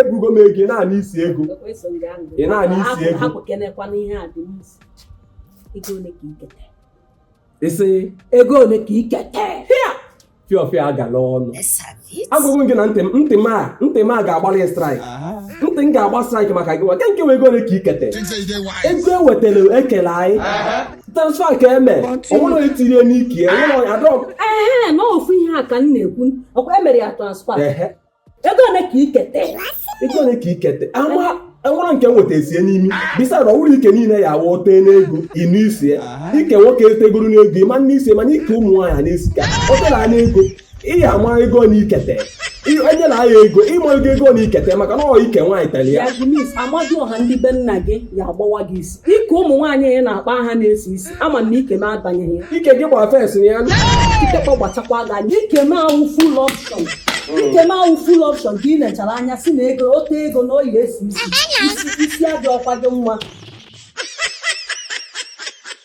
ebugo m ego ị na-anụ isi ego ị na-anụ isi ego isi ego ole ka ikete fiọfịa agala ọnụ agụgụ gị na ntị m ntị m a ntị m a ga-agbalị strike ntị m ga-agba strike maka gị nwa nke ego ole ka ikete ego ewetara ekele anyị transfer ka eme o nwerọ etinye n'ike o nwerọ adọm ee na ofu ihe a ka m na-ekwu ọkwa emere ya transfer ego ole ka ikete ego ole ka ikete ama enwere nke nweta esie n'imi bisa na ọ wụrụ ike niile ya awụ tee n'ego ị nụ isi ya ike nwoke etegoro n'ego ị ma anụ isi mana ike ụmụ nwaanyị na-esi ka o tela anya ego ị ya ama ego na ikete e tela ya ego ịma ego ego na ikete maka na ọ ike nwaanyị tere ya ya bụ mis amadịọha ndị be nna gị ya agbawa gị isi ike ụmụ nwaanyị ị na-akpọ aha na-esi isi ama m na ike m abanyeghị ya ike gị gbara fensị ya ikekwa gbachakwa gị anya ike m awụ full option ike m awụ full option ka ị nechara anya sị na ego o te ego na ọ ya-esi isi isi adịrọkwa gị mma